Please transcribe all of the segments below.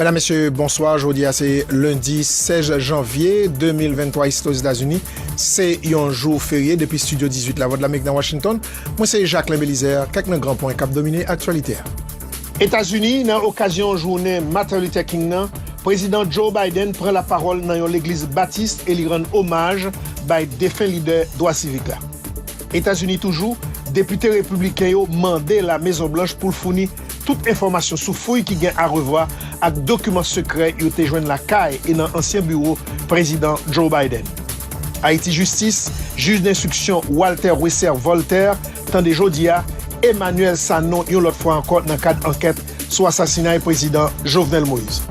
Medam mesye bonswa jodi a se lendi 16 janvye 2023 isi to zetazini se yon jou ferye depi studio 18 la vòt la mik nan Washington mwen se Jacquelin Belizaire kèk nan gran pwen kap domine aktyalite a. Etazini nan okazyon jounen Martin Luther King nan prezidan Joe Biden pran la pawòl nan yon legliz batist e li rann omaj bay defen lidè dwa sivik la. Etazini toujou, depite repibliken yo mande la mezon blanch poul founi Tout enfòmasyon sou fouy ki gen arevwa ak dokiman sekrè yo te jwenn lakay e nan ansyen biwo Prezidan Joe Biden. Ayiti Jistis, Jij denstriksyon Walter Wesser Voltaire tande jodi a Emmanuel Sanon yon lòt fwa ankò nan kad ankèt sou asasinay Prezidan Jovenel Moïse.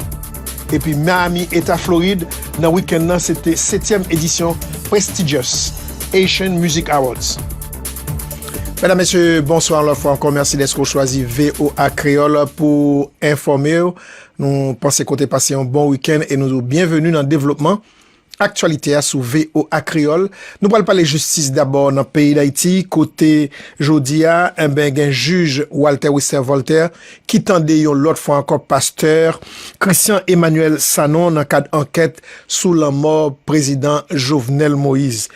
Epi Miami, Eta Florid, nan wikenn nan se te setyèm edisyon prestigious Haitian Music Awards. Mèdam mesye, bonswa lòt fwa ankò, mèsi dèske ou chwazi voa Kreyòl pou ou enfòme ou. Nou panse ke ou te pase yon bon wikenn e nou di w byenveni nan devlopman aktyalite a sou voa Kreyòl. Nou pral pale jistis dabò nan peyi Dayiti kote jodi a enben gen jij Walter Wester Voltaire ki tande yon lòt fwa ankò pastè Christian Emmanuel Sanon nan kad ankèt sou lanmò prezidan Jovenel Moïse.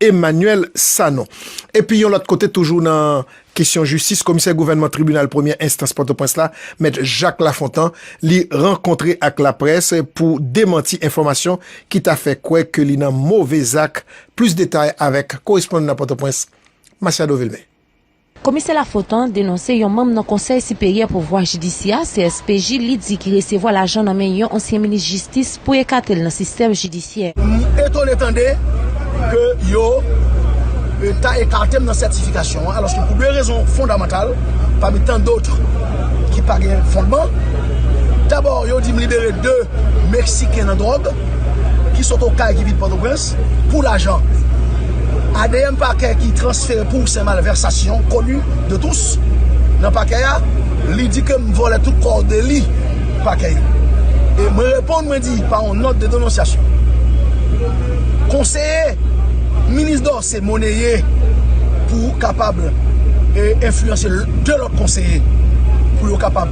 Emmanuel Sanon. Epi yon lòt kote toujou nan kesyon jistis, komisè gouvènman tribinal premyè enstans Pòtoprens la, mèt Jacques Lafontant, li rankontre ak laprès pou demanti enfòmasyon ki ta fè kwè ke li nan move zak. Plis detay avèk korespondan Pòtoprens, Masiado Vilmé. Komisè Lafontant denonse yon manm nan Konsèy Siperyè Pouvwa Jidisyè a, CSPJ, li di ki resevwa lajan nan men yon ansyen minis jistis pou ekate l nan sistèm jidisyè. M etone tande ke yo ta ekate m nan sètifikasyon an alòske pou 2 rezon fondamantal pami tan dotre ki pa gen fondman. Dabò yo di m libere 2 Meksiken nan dwòg ki sot Okay ki vin Pòtoprens. Ras pou lajan. Adm pakè ki transfere pou se malversasyon koni de tous nan pakè a li di ke m vòlè tout kò de li pakè yo e mwen reponn mwen di pa yon nòt de denonsyasyon konseye minis dò se moneye pou kapab e enfliyanse de lòt konseye pou yo kapab.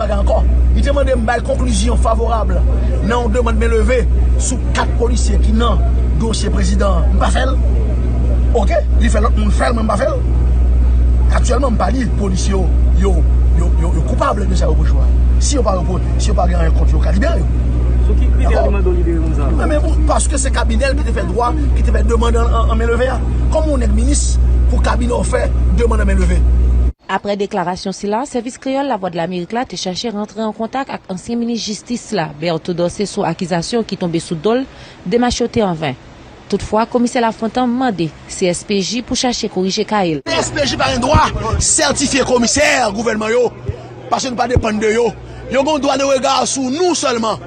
Bagay ankò, li te mande m bay konklizyon favorab nan yon demand men leve sou 4 polisye ki nan dosye prezidan an, m pa fè l. Ok, li fè lòt moun fè l mwen m pa fè l. Aktyèlman m pa di polisye yo yo yo yo koupab de sa yo reproche yo a. Si yo pa repro, si yo pa gen anyen kont yo, yo ka libere yo. Sou ki kritè li mande w libere moun sa yo? Mwen menm, paske se kabinè l ki te fè dwa, ki te fè demand an men leve a. Kòman yon nèg minis pou kabinè w fè demand an men leve? Aprè deklarasyon sila, Sèvis Kreyòl Lavwadlamerik la te chache rantre an kontak ak ansyen minis jistis la, Berto Dorcé sou akizasyon ki tonbe sou do l, demach yo te an ven. Toutfwa, Komisè Lafontan mande CSPJ pou chache korije ka e l. CSPJ pa gen dwa sètifye komisè gouvènman yo paske nou pa depann de yo. Yo gen yon dwa de rega sou nou sèlman.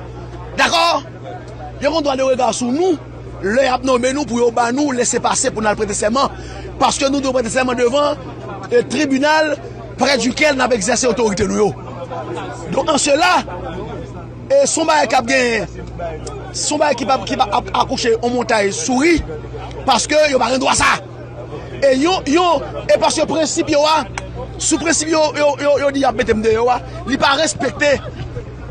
Dakò? Yo gen yon dwa de rega sou nou. lè y ap nonmen nou pou yo ban nou lese pase pou n al prete sèman, paske nou dwe prete sèman devan tribinal prè dikèl n ap egzèse otorite nou yo. Donk an sela, se yon bagay k ap gen, se yon bagay ki ap akouche yon montay souri, paske yo pa gen dwa sa. E yon yon e paske prensip yo a sou prensip yo yo yo di yap mete m deyò a li pa respekte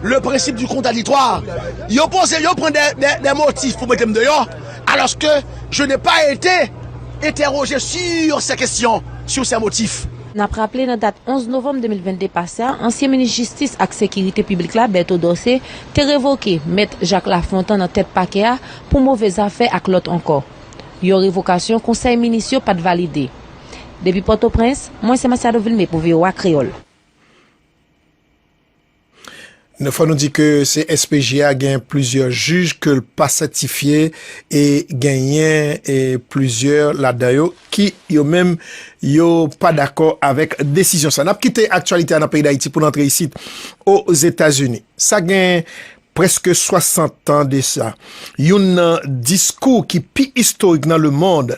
le prensip di kontraditwa yo poze yo pran de motif pou mete m deyò alòske je ne pa ete entèroje si se kesyon si se motif. N ap raple nan dat 11 novanm 2022 pase a ansyen minis jistis ak sekirite piblik la Berto Dorcé te revoke mèt Jacques Lafontant nan tèt pakè a pou move zafè ak lòt ankò. Yon revokasyon konsèy minis yo pat valide. Depi Pòtoprens, mwen se Masiado Vilmé pou voa Kreyòl. Nou fò nou di ke CSPJ a gen plizyè jij ke l pa sètifye e genyen plizyè ladan yo ki yo menm yo pa dakò avèk desizyon sa. N ap kite aktyalite a nan peyi Dayiti pou n antre isit Ozetazini. Sa gen Prèske 60 tan de sa, youn nan diskou ki pi istorik nan lemond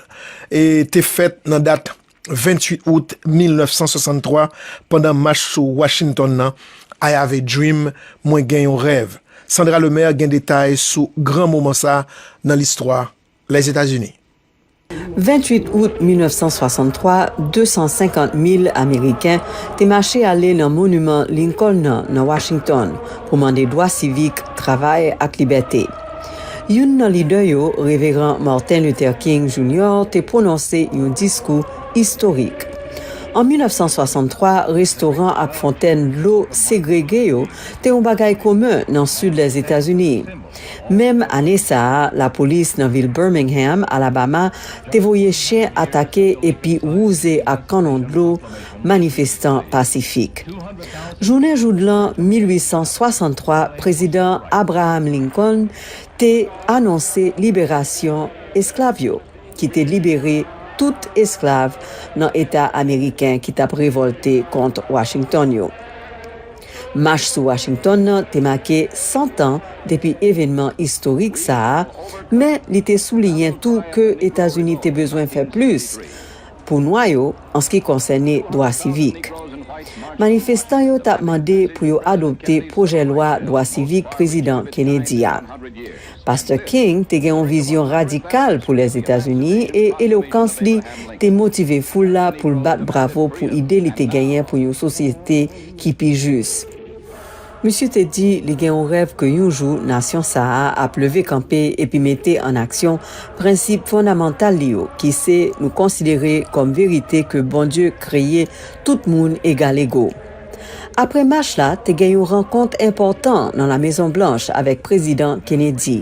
te fèt nan dat 28 out 1963 pandan mach sou Washington nan, I have a dream, Mwen gen yon rèv. Sandra Lemaire gen detay sou gran moman sa nan listwa Lèzetazini. 28 out 1963, 250 mil Ameriken te mache ale nan moniman Lincoln nan nan Washington pou mande dwa sivik, travay ak libète. Youn nan lidè yo, Reveran Martin Luther King, Jr. te pwononse yon diskou istorik. An 1963, restoran ak fontèn dlo segrege yo te yon bagay komen nan sid Lèzetazini. Menm ane sa a, lapolis nan vil Birmingham, Alabama, te voye chen atake epi wouze ak kannon dlo manifestan pasifik. Jounen joudlan 1863, Prezidan Abraham Lincoln te anonse liberasyon esklav yo, ki te libere tout esklav nan eta ameriken ki t ap revòlte kont Washington yo. Mach sou Washington nan te make 100 tan depi evenman istorik sa a, men li te souliyen tou ke Etazini te bezwen fè plis pou Nwa yo anski konsène dwa sivik. Manifestan yo t ap mande pou yo adopte pwojè lwa dwa sivik Prezidan Kennedy a. Pastè King te gen yon vizyon radikal pou Lèzetazini e elokans li te motive foul la pou l bat bravo pou ide li te genyen pou yon sosyete ki pi jis. Misye te di li gen yon rèv ke yon jou nasyon sa a ap leve kanpe epi mete an aksyon prensip fondamantal li yo ki se nou konsidere kòm verite ke Bondye kreye tout moun egalego. Apre mach la, te gen yon rankont enpòtan nan La Mezon Blanch avèk Prezidan Kennedy.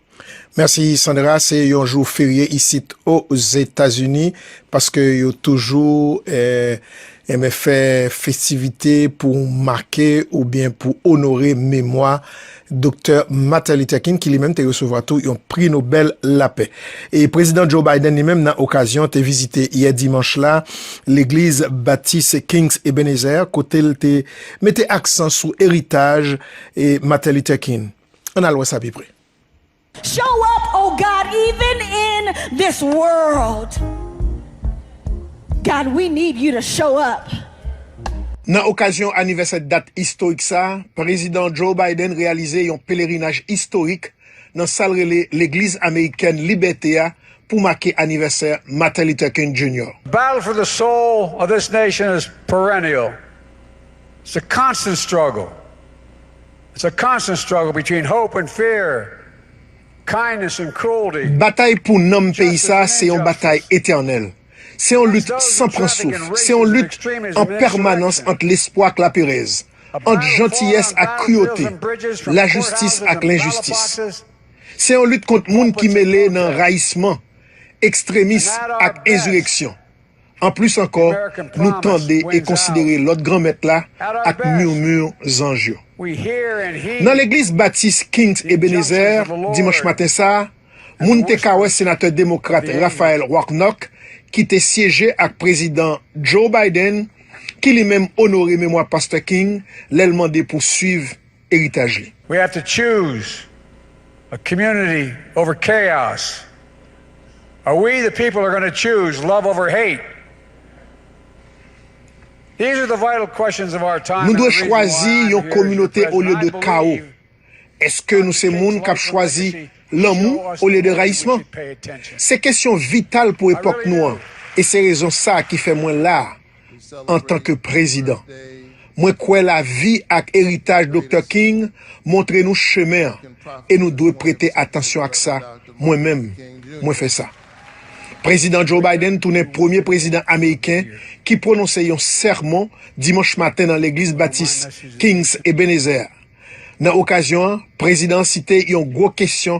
Merci Sandra se yon jou ferye isit o zetazini paske yo toujou eh enben fè festivite pou make oubyen pou onore memwa Doktè Martin Luther King ki li menm te resevwa tou yon pri Nobel lapè. E Prezidan Joe Biden li menm nan okazyon te vizite yè dimanch la legliz Batis Kings Ebenezer kotel te mete aksan sou eritaj Martin Luther King. Ann al wè sa pi pre. Show up oh God even in this world God we need you to show up. Nan okazyon anivèsè dat istorik sa, Prezidan Joe Biden reyalize yon pelerinaj istorik nan sa l rele Legliz Amerikèn Libète a pou make anivèsè Martin Luther King Jr. Battle for the soul of this nation is perennial, it's a constant struggle. It's a constant struggle between hope and fear, kindness and cruelty. Batay pou nanm peyi sa a se yon batay etènèl. Se yon lit san pran souf. Se yon lit an pèmanans ant lespwa ak laperèz, ant jantiyès ak kriyote, lajistis ak lenjistis. Se yon lit kont moun ki mele nan rayisman, ekstremism ak enzireksyon. Anplis ankò, nou tande e konsidere lòd Granmèt la ak murmure zanj yo. Nan legliz Batis Kings Ebenezer, dimanch maten sa, moun te ka wè senatè demokrat Raphael Warnock ki te syeje ak Prezidan Joe Biden, ki li menm onore memwa Pastè King lè l mande pou swiv eritaj li. We have to choose a community over chaos are we the people are gonna choose love over hate these are the vital questions of our time and the reason why I'm here as your president I believe Nou dwe chwazi yon kominote olye de kawo Eske nou se moun kap chwazi lanmou olye de rayisman? Se kesyon vital pou epòk nou an e se rezon sa ki fè mwen la a antanke prezidan. Mwen kwè lavi ak eritaj Doktè King montre nou chemen an e nou dwe prete atansyon ak sa, mwen menm, mwen fè sa. Prezidan Joe Biden tounen premye prezidan ameriken ki pwononse yon sèmon dimanch maten nan Legliz Batis King's Ebenezer. Nan okazyon an, prezidan an site yon gwo kesyon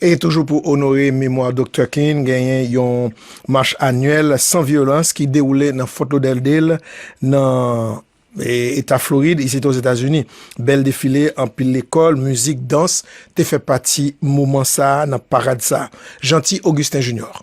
E toujou pou onore memwa Doktè King, genyen yon mach anyèl san vyolans ki dewoule nan Fort Lauderdale, nan Eta Florid, isit Ozetazini. Bèl defile, anpil lekòl, mizik, dans te fè pati moman sa a nan parad sa a. Jeanty Augustin Junior.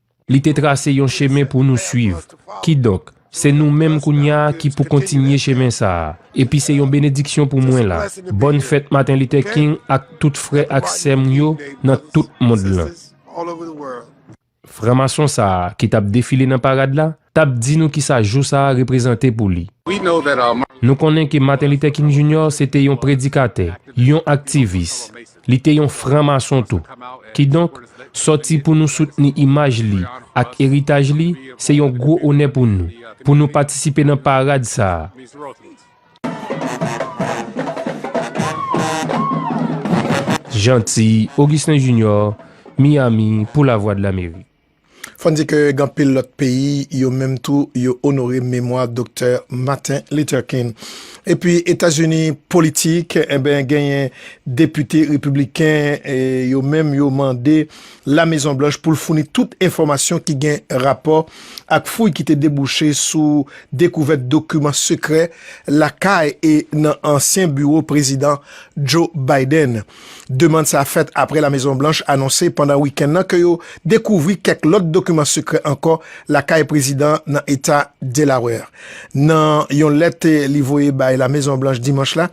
Li te trase yon chemen pou nou suiv. Kidonk, se nou menm kounye a ki pou kontinye chemen sa a. Epi se yon benediksyon pou mwen la. Bòn fèt Maten Lite King ak tout frè ak sè m yo nan tout mond lan. Franmason sa a ki t ap defile nan parad la t ap di nou kisa jou sa a reprezante pou li. Nou konnen ke Maten Lite King Jinyò se te yon predikatè, yon aktivis, Li te yon franmason tou. Kidonk, sòti pou nou soutni imaj li ak eritaj li, se yon gwo onè pou nou, pou nou patisipe nan parad sa a. Jeanty Augustin Junior, Miami, pou Lavwadlamerik. Fò n di ke gen anpil lòt peyi, yo menm tou, yo onore memwa Doktè Martin Luther King. Epi Etazini politik, enben genyen depite repibliken, yo menm yo mande La Mezon Blanch pou l founi tout enfòmasyon ki gen rapò ak fouy ki te debouche sou dekouvèt dokiman sekrè lakay e nan ansyen biwo Prezidan Joe Biden. Demand sa fèt apre La Mezon Blanch anonse pandan wikenn nan ke yo dekouvri kèk lòt dokiman sekrè ankò lakay prezidan an nan eta Delaware. Nan yon lèt li voye bay La Mezon Blanch dimanch la,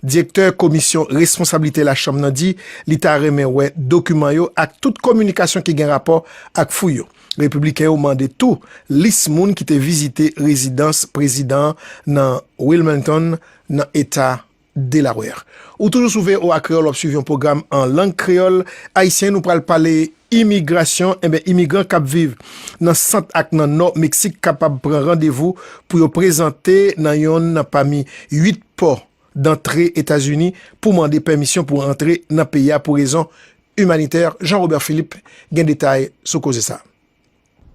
direktè Komisyon Responsablite Lachanm nan di li ta renmen wè dokiman yo ak tout kominikasyon ki gen rapò ak fouy yo. Repibliken yo mande tou lis moun ki te vizite rezidans prezidan an nan Wilmington, nan eta Delaware. Ou toujou sou voa Kreyòl, w ap swiv yon pwogram an lang kreyòl ayisyen. Nou pral pale imigrasyon. Enben, imigran k ap viv nan sant ak nan nò Meksik kapab pran randevou pou yo prezante nan yonn nan pami 8 pò dantre Etazini pou mande pèmisyon pou antre nan peyi a pou rezon imanitè. Jean Robert Philippe gen detay sou koze sa a.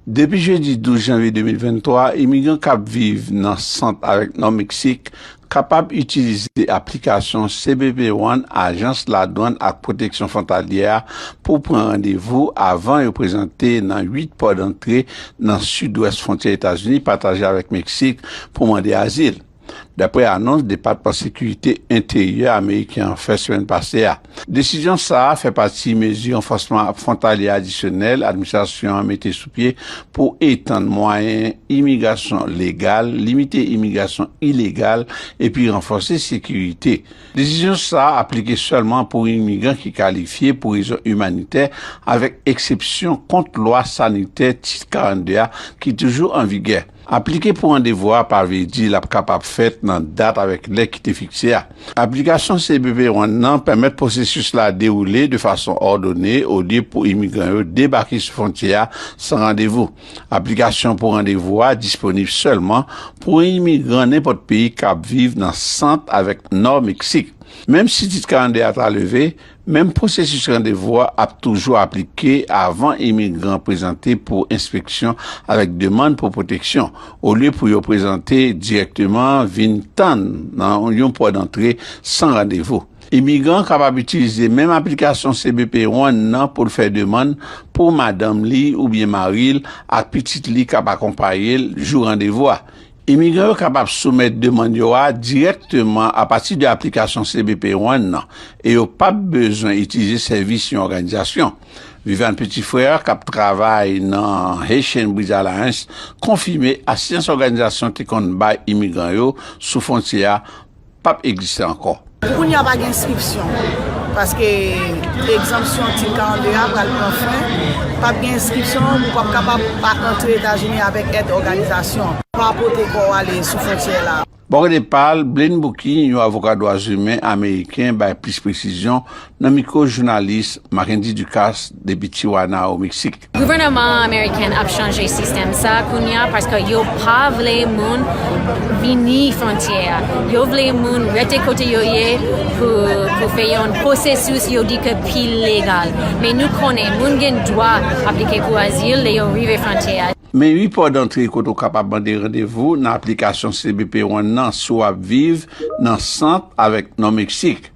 Depi jedi 12 janvye 2023, imigran k ap viv nan Sant avèk Nò Meksik kapab itilize aplikasyon cbp One Ajans Ladwann ak Pwoteksyon Fwontalyè a pou pran randevou avan yo prezante nan 8 pò dantre nan sidwès fwontyè Etazini pataje avèk Meksik pou mande azil. dapre anons Depatman Sekirite Enteryè ameriken an fè semèn pase a. Desizyon sa a fè pati mezi ranfòsman fwontalye adisyonèl administrasyon an mete sou pye pou etann mwayen imigrasyon legal, limite imigrasyon ilegal epi ranfòse sekirite. Desizyon sa a aplike sèlman pou imigran ki kalifye pou rezon imanitè, avèk eksepsyon kont lwa sanitè Tit 42 a ki toujou an vigè. Aplike pou randevou a pa vle di l ap kapab fèt nan dat avèk lè ki te fikse a. Aplikasyon cbp One nan pèmèt pwosesis la dewoule de fason òdone olye pou imigran yo debake sou fwontyè a san randevou. Aplikasyon pou randevou a disponib sèlman pou imigran nenpòt peyi k ap viv nan Sant avèk Nò Meksik. Menm si Tit 42 a ta leve, Menm pwosesis randevou a ap toujou aplike avan imigran prezante pou enspeksyon avèk demann pou pwoteksyon, olye pou yo prezante dirèkteman vin tann nan yon pò dantre san randevou. Imigran an kapab itilize menm aplikasyon cbp One nan pou l fè demann pou madanm li oubyen mari l ak pitit li k ap akonpaye l jou randevou a. Imigran yo kapab soumèt demann yo a dirèkteman apati de aplikasyon cbp One nan e yo p ap bezwen itilize sèvis yon òganizasyon. Viviane Petit-Frère, k ap travay nan Haitian Bridge Alliance, konfime asistans òganizasyon te konn bay imigran yo sou fwontyè a, pap egziste ankò. Kounye a pa gen enskripsyon paske egzanpsyon Tit 42 a pral pran fen, pap gen enskripsyon, ou pap kapab pa antre Etazini avèk èd òganizasyon. Pa pote kò w ale sou fwontyè la. Bò kote pa l, Blaine Booky, yon avoka dwazimen ameriken bay plis presizyon nan mikwo jounalis Mackendy Ducasse depi Tijuana, o Meksik. Gouvèneman American ap chanje sistèm sa kounya paske yo pa vle moun vini frontyè a yo vle moun rete kote yo ye pou fè yon pwosesis yo di ke pi legal men nou konnen moun gen dwa aplike pou azil lè yo rive frontyè a. Men 8 pò dantre kote ou kapab mande randevou nan aplikasyon cbp One nan si w ap viv nan sant avèk Nò Meksik.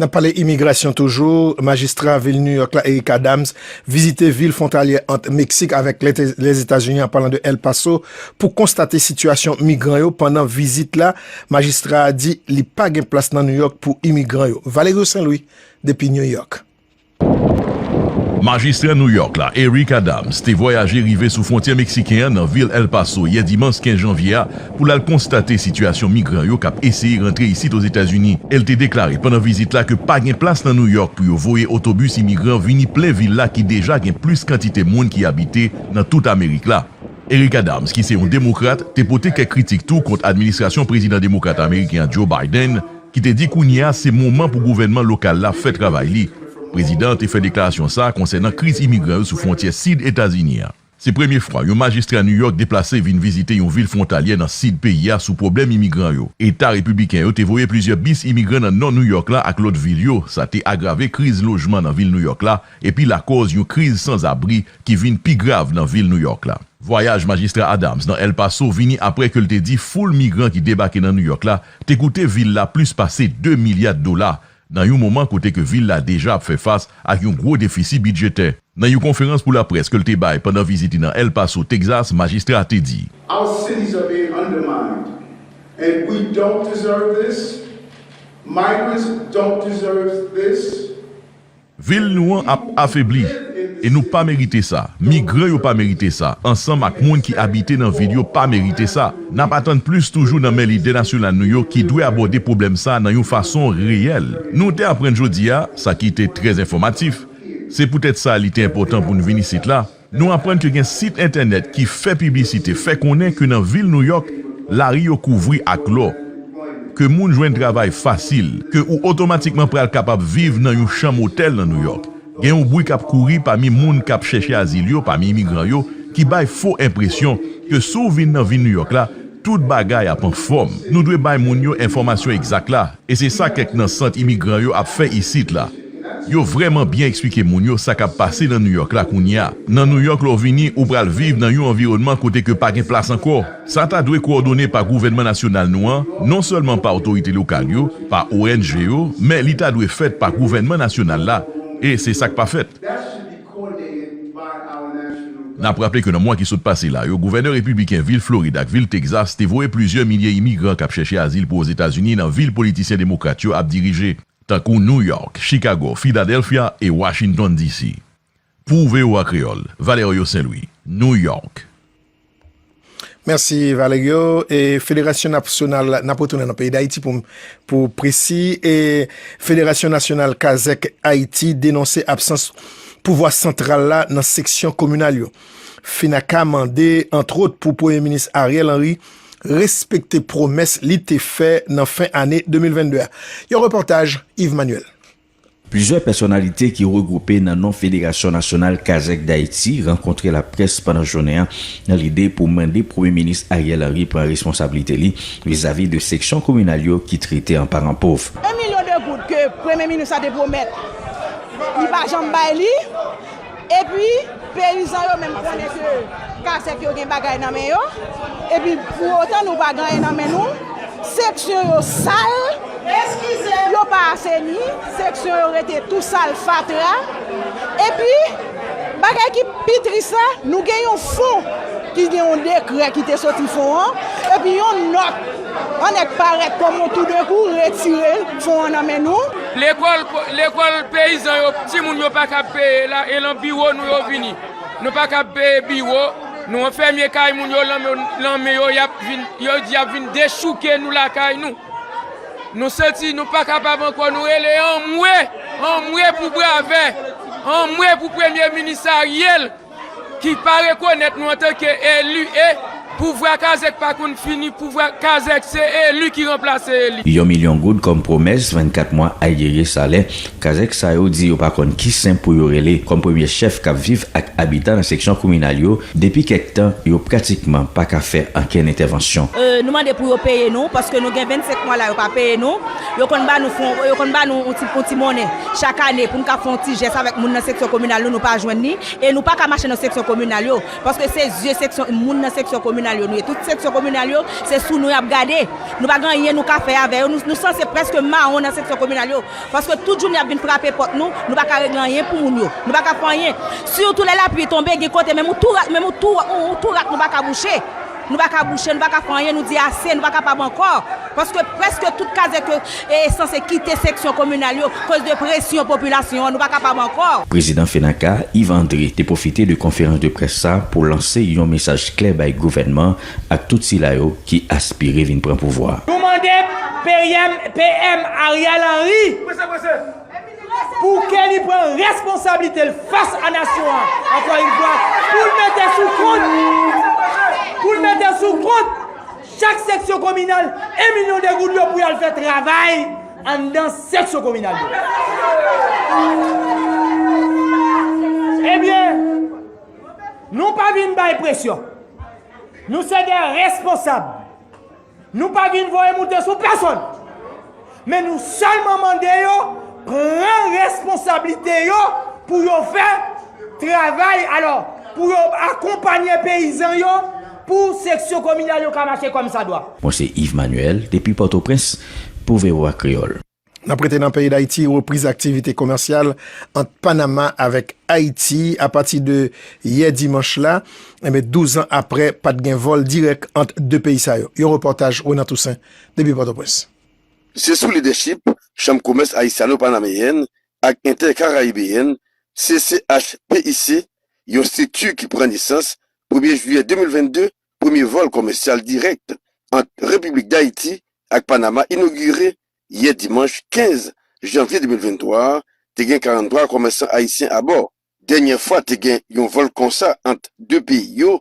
N ap pale imigrasyon toujou, majistra vil New York la Eric Adams vizite vil fwontalyè ant Meksik avèk Lèzetazini an palan de El Paso pou konstate sitiyasyon migran yo pandan vizit la majistra a di li pa gen plas nan New York pou imigran yo Valerio Saint Louis depi New York. Majistra New York la, Eric Adams, te vwayaje rive sou fwontyè meksiken an nan vil El Paso yè dimans 15 janvye a pou l al konstate sitiyasyon migran yo k ap eseye rantre isit Ozetazini. El te deklare pandan vizit la ke pa gen plas nan New York pou yo voye otobis imigran vini plen vil la ki deja gen plis kantite moun ki abite nan tout Amerik la. Eric Adams, ki se yon Demokrat, te pote kèk kritik tou kont administrasyon Prezidan Demokrat Ameriken an, Joe Biden, ki te di kounye a se moman pou gouvènman lokal la fè travay li. Prezidan an te fè deklarasyon sa a konsènan kriz imigran yo sou fwontyè sid Etazini a. Se premye fwa yon majistra New York deplase vin vizite yon vil fwontalyè nan sid peyi a sou pwoblèm imigran yo. Eta Repibliken yo te voye plizyè bis imigran nan nò New York la ak lòt vil yo, sa te agrave kriz lojman nan vil New York la epi lakòz yon kriz sanzabri ki vin pi grav nan vil New York la. Vwayaj Majistra Adams nan El Paso vini apre ke l te di foul migran ki debake nan New York la te koute vil la plis pase 2 milya dola nan yon moman kote ke vil la deja ap fè fas ak yon gwo defisi bidjetè. Nan yon konferans pou laprès ke l te bay pandan vizit li nan El Paso, Texas, majistra a te di. Our cities are being undermined and we don't deserve this, migrants don't deserve this. Vil nou an ap afebli, e nou pa merite sa. Migran yo pa merite sa, ansanm ak moun ki abite nan vil yo pa merite sa. N ap atann plis toujou nan men lidè nasyonal nou yo ki dwe abòde pwoblèm sa nan yon fason reyèl. Nou te aprann jodi a, sa ki te trè enfòmatif, se poutèt sa li te enpòtan pou n vin isit la, Nou aprann ke gen sit entènèt ki fè piblisite fè konnen ke nan vil Nouyòk, lari yo kouvri ak lò, ke moun jwenn travay fasil, ke ou otomatikman pral kapab viv nan yon chanm otèl nan Nouyòk. Gen yon bwi k ap kouri pami moun k ap chèche azil yo, pami imigran yo, ki bay fo enpresyon ke si w vin nan vil Nouyòk la, tout bagay ap anfòm. Nou dwe bay moun yo enfòmasyon egzak la. E se sa kèk nan sant imigran yo ap fè isit la. Yo vrèman byen eksplike moun yo sa k ap pase nan Nouyòk la kounye a. Nan Nouyòk, lè w vini, ou pral viv nan yon anviwònman kote ke pa gen plas ankò. Sa ta dwe kowòdone pa gouvènman nasyonal nou an, non sèlman pa otorite lokal yo, pa ong yo, men li ta dwe fèt pa gouvènman nasyonal la, e se sa k pa fèt. N ap raple ke nan mwa ki sot pase la yo, gouvènè repibliken vil Florid ak vil Texas te voye plizyè milye imigran k ap chèche azil pou Ozetazini nan vil politisyen demokrat yo ap dirije, tankou New York, Chicago, Philadelphia e Washington DC. Pou voa Kreyòl, Valerio Saint-Louis, New York. Mèsi Valerio, e federasyon nasyonal, n ap retounen nan peyi Dayiti pou pou presi, e federasyon nasyonal kazèk Ayiti denonse absans pouvwa santral la nan seksyon kominal yo. Fenaca mande antwot pou premye minis Ariel Henry respekte pwomès li te fè nan fen ane 2022 a. Yon repòtaj Yves Manuel. Plizyè pèsonalite ki regwoupe nan non Federasyon Nasyonal Kazèk Dayiti rankontre laprès pandan jounen an nan lide pou mande Premye Minis Ariel Henry pran responsablite li vizavi de seksyon kominal yo ki trete an paran pov. 1 milyon de goud ke Premye Minis la te pwomèt li pa janm bay li. Epi peyizan yo menm konnen ke kasek yo gen bagay nan men yo, epi pou otan nou pa gen anyen nan men nou, seksyon yo sal, yo pa aseni, seksyon yo rete tou sal, fatra, epi bagay ki pi tris la, nou gen yon fon ki gen yon dekrè ki te soti fon an, epi yon nòt. An nèg parèt kòm on toudenkou retire fon an nan men nou. Lekòl lekòl peyizan yo timoun yo pa kab peye la e lan biwo nou yo vini. Nou pa kab peye biwo nou an fèmye kay moun yo lan lan men yo yap vin yo di yap vin dechouke nou lakay nou. Nou santi nou pa kapab ankò nou rele anmwe anmwe pou Bravè anmwe pou premye minis Ariel. ki pa rekonèt nou antanke eli e pouvwa kazèk pa konn fini pouvwa kazèk se eli ki ranplase eli. Yon milyon goud kòm pwomès 24 mwa ayieye salè kazèk sa yo di yo pa konn ki sen pou yo rele kòm premye chèf k ap viv ak abitan nan seksyon kominal yo depi kèk tan yo pratikman pa ka fè ankenn entèvansyon. Nou mande pou yo peye nou paske nou gen 25 mwa la yo pa peye nou. Yo konn ba nou fon, yo konn ba nou yon ti monnen chak ane pou nou ka fè yon ti jès avèk moun nan seksyon kominal nou, nou pa jwenn li e nou pa ka mache nan seksyon kominal yo paske se zye seksyon, moun nan seksyon kominal yo nou ye. Tout seksyon kominal yo se sou nou y ap gade. Nou pa gen anyen nou ka fè avè yo, nou sanse prèske mawon nan seksyon kominal yo paske tout jounen y ap vin frape pòt nou, nou pa ka regle anyen pou moun yo, nou pa ka fè anyen sitou lè lapli tonbe gen kote menm yon tou rat, menm yon tou rat nou pa ka bouche. Nou pa ka bouche, nou pa ka fè anyen, nou di ase, nou pa kapab ankò, paske prèske tout kazèk yo sanse kite seksyon kominal yo koz de presyon popilasyon an, nou pa kapab ankò. Prezidan FENAKA, Yves André te pwofite de konferans de près sa pou lanse yon mesaj klè bay gouvènman ak tout sila yo ki aspire vin pran pouvwa. Nou mande PM Ariel Henry Pou Kenny pran responsablite l fas a nasyon an ankò yn fwa pou l mete sou kont pou l mete sou kont chak seksyon kominal 1 milyon de goud yo pou y al fè travay anndan seksyon kominal yo. Ebyen nou pa vin bay presyon. Nou se de responsab. Nou pa vin voye moute sou pèsonn, men nou sèlman mande yo pran responsablite yo pou yo fè travay alò pou yo akonpanye peyizan yo pou seksyon kominal yo ka mache kòmsadwa. Mwen se Yves Manuel depi Pòtoprens pou voa Kreyòl. N ap rete nan peyi Dayiti, repriz aktivite komèsyal ant Panama avèk Ayiti apati de yè dimanch la, 12 an aprè pa t gen vòl dirèk ant 2 peyi sa yo. Yon repòtaj Renan Toussaint depi Pòtoprens. Se sou lidèchip Chanm Komès Ayisyano-Panameyèn ak Entè-Karayibeyèn, CCHPIC, yon strikti ki pran nesans premye jiyè 2022 Premye vòl komèsyal dirèk ant Repiblik Dayiti ak Panama inogire yè dimanch 15 janvye 2023 a, te gen 43 komèsan ayisyen abò. Dènyè fwa te gen yon vòl konsa ant 2 peyi yo,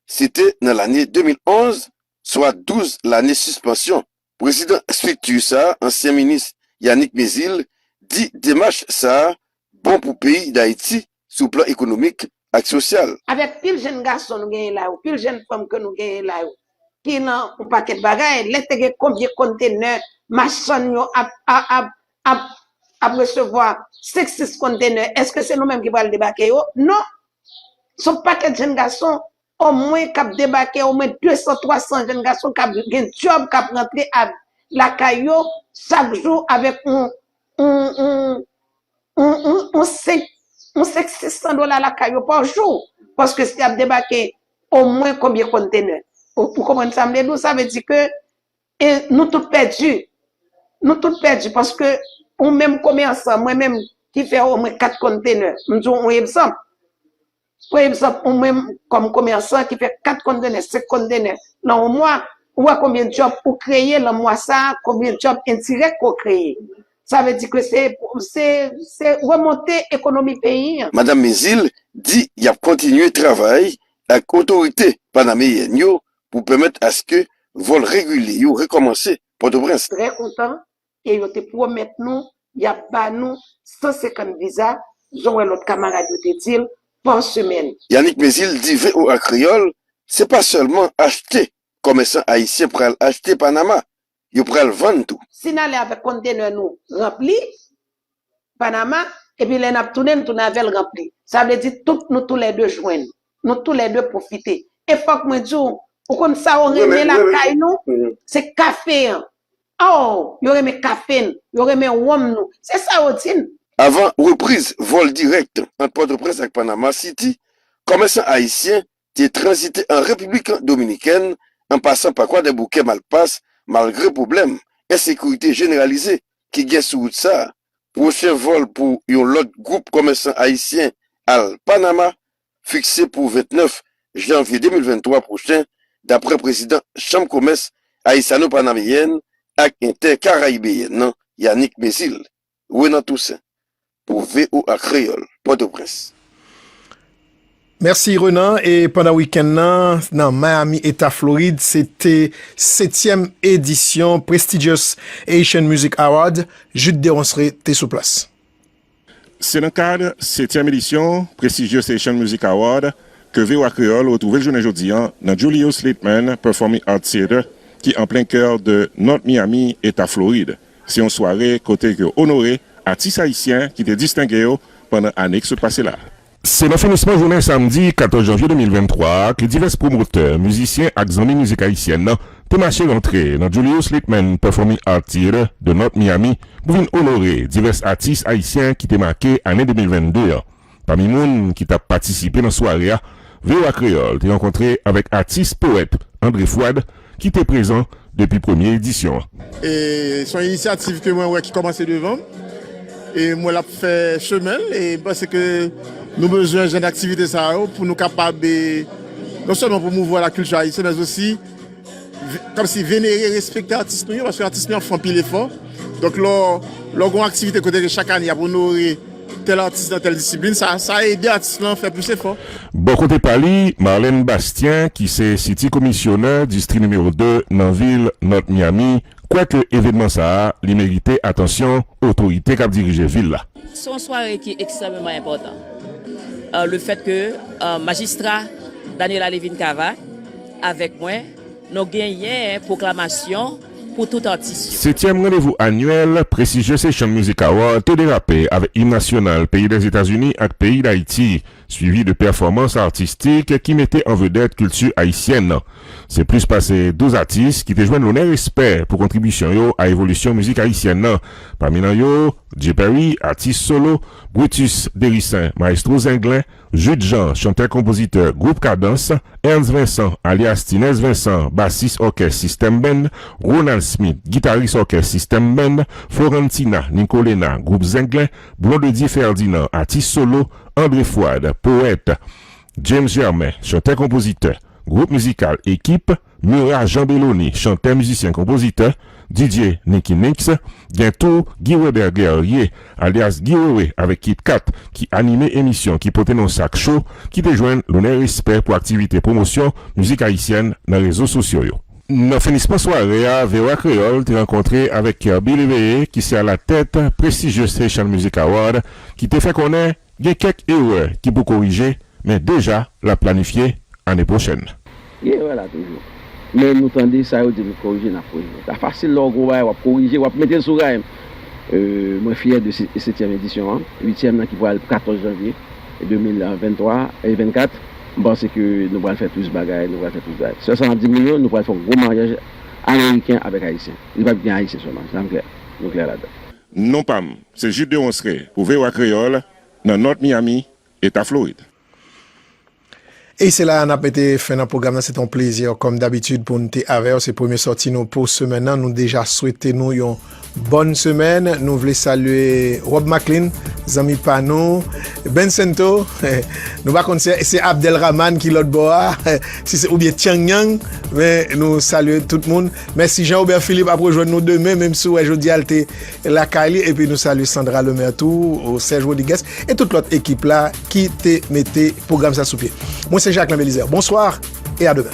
se te nan lane 2011, swa 12 lane sispansyon Prezidan estrikti sa, ansyen minis Yanick Mezile, di demach sa bon pou peyi Dayiti sou plan ekonomik ak sosyal. Avèk pil jenn gason nou genyen la yo, pil jenn fanm ke nou genyen la yo, ki lan yon pakèt bagay, lè te gen konbyen kontenè machann yo ap resevwa, 5, 6 kontenè, eske se nou menm ki pral debake yo? Non! Son pakèt jenn gason O mwen kap debake o mwen 200 300 jenn gason kap gen dyòb kap rantre a lakay yo chak jou avèk on on on on on on 5 on 5 600 dola lakay yo pa jou paske si yap debake o mwen konbyen konntenè o ou konprann sam vle di w sa vle di ke e nou tout pèdi nou tout pèdi paske ou menm komèsan mwen menm ki fè o mwen 4 konntenè m di w on egzanp. Pa egzanp, ou menm kòm komèsan ki fè 4 kontenè, 5 kontenè nan yon mwa, ou wè konbyen djòb ou kreye nan mwa sa a, konbyen djòb endirèk ke w kreye. Sa vle di ke se remonte ekonomi peyi an. Madam Mézil di y ap kontinye travay ak otorite panameyèn yo pou pèmèt aske vòl regilye yo rekòmanse Pòtoprens. Trè kontan e yo te pwomèt nou y ap ba nou 150 viza, jan wè lòt kamarad yo te di l, pa semèn. Yanick Mézil di voa Kreyòl se pa sèlman achte komèsan ayisyen pral achte Panama, yo pral vann tou. Si n ale avèk konntenè nou ranpli, Panama, epi lè n ap tounen, n tounen avè l ranpli. Sa vle di tout nou tou lè de jwenn. Nou tou lè de pwofite. E fòk mwen di w, ou konn sa yo renmen lakay nou? Se kafe an. Aww, yo renmen kafe n, yo renmen wonm nou. Se sa yo di n. Avan repriz vòl dirèk ant Pòtoprens ak Panama Siti, kòmèsan ayisyen te tranzite an Repiblik Dominikèn an pasan pa Kwadèboukè Malpas malgre pwoblèm ensekirite jeneralize ki gen sou wout sa a. Pwochen vòl pou yon lòt gwoup kòmèsan ayisyen al Panama fikse pou 29 janvye 2023 pwochen daprè prezidan chanm komès Ayisano-Panameyèn ak Entè Karayibeyèn nan, Yanick Mézile. Renan Toussaint pou voa Kreyol, Potoprens. Mèsi Renan, e pandan wikenn nan, nan Miami eta Florid, se te setyèm edisyon prestigious Haitian Music Award, Jude Deronsré te sou plas. Se nan kad setyèm edisyon prestigious Haitian Music Award ke voa Kreyol retwouve l jounen jodi an nan Julius Litman Performing Arts Theatre ki an plen kè de North Miami eta Florid. Se yon sware kote yo onore atis ayisyen ki te distenge yo pandan ane ki sot pase la a. Se nan finisman jounen samdi 14 janvye 2023 a ke divès pwomotè, mizisyen ak zanmi mizik ayisyèn nan te mache rantre nan Julius Litman Performing Art Theatre de North Miami pou vin onore divès atis ayisyen ki te make ane 2022 an. Pami moun ki t ap patisipe nan sware a, voa Kreyòl te rankontre avèk atis powèt André Fouad ki te prezan depi premye edisyon an. E s on inisyativ ke mwen wè ki kòmanse devan m, e m wè l ap fè chemen l, e m panse ke nou bezwen jan daktivite sa yo pou nou kapab non sèlman pwomouvwa lakilti ayisyen men osi Kòmsi venere, respekte atis nou yo, paske atis nou yo ap fè anpil efò. Donk lè w gen yon aktivite kote ke chak ane y ap onore tèl atis nan tèl disiplin, sa ede atis lan fè plis efò. Bò kote pa li, Marlène Bastien ki se City Komisyonè Distri Nimewo 2 nan vil North Miami kwè ke evenman sa a li merite atansyon otorite k ap dirije vil la. Se yon sware ki ekstrèmeman enpòtan. Le fèt ke Majistra Daniella Levine-Cava, Avèk mwen, nou genyen pwoklamasyon pou tout atis yo. Setyèm randevou anyèl Prestigious Haitian Music Award te derape avèk im nasyonal peyi Lèzetazini ak peyi Dayiti, swivi de pèfòmans atistik ki mete an vedèt kilti ayisyèn nan. Se plis pase 12 atis ki te jwenn lonè respè pou kontribisyon yo a evolisyon mizik ayisyèn nan, pami nan yo, J-Perry, atis solo, Brutus Derisaint, Maestro Zenglen, Jude Jean, chantè-konpozitè gwoup Kadans, Ernst Vincent, alyas Tinèz Vensan, basis òkès System Band, Ronald Smith, gitaris òkès System Band, Florentina Nicolena, gwoup Zenglen, Blondedy Ferdinand, atis solo, André Fouad, powèt, James Germain, chantè-konpozitè, gwoup mizikal Equipe, Murat Jean Bellony, chantè, mizisyen, konpozitè, Didier Nicky Nix, gen tou Guy Weber Guerrier, alyas Guy Wewe avèk Kit Kat ki anime emisyon ki pote non Sak Show ki te jwenn lonè respè pou aktivite pwomosyon mizik ayisyèn nan rezo sosyo yo. Nan finisman sware a, voa Kreyòl te rankontre avèk Kerby Léveillé ki se alatèt prestijye Station Music Award ki te fè konnen, Gen kèk erè ki pou korije, men deja l ap planifye ane pwochèn. Gen erè la toujou. Men nou tande sa yo di nou korije n ap korije. Sa fasil lè w gen yon bagay w ap korije, w ap mete l sou ray. Mwen fyè de setyèm edisyon an, uityèm nan ki pral 14 janvye 2023 e 24. M panse ke nou pral fè plis bagay, nou pral fè plis bagay. Sèl sa m ap di moun yo, nou pral fè yon gwo maryaj ameriken avèk ayisyen. Li pap gen ayisyen sèlman. Sa m klè? Nou klè ladan? Non pa m se Jude Deronsre pou voa Kreyòl nan North Miami, Eta Florid. E se la a n ap mete fen nan pwogram nan. Se te yon plezi kòm dabitid pou n te avè w. Se premye sòti nou pou semèn nan. Nou deja swete nou yon bòn semèn. Nou vle salye Rob Macklin, zanmi pa nou, Ben Sento, nou pa konn se Abdelrahman ki lòt bò a, si se oubyen Tyangyang, men nou salye tout moun. Mèsi Jean Robert Philippe ap rejwenn nou demen menm si ou wè jodi a l te lakay li epi nou salye Sandra Lemaire tou Serge Rodrigues e tout lòt ekip la ki te mete pwogram sa sou pye mwen se Jacques Lamb Elizer bonswa e a demen.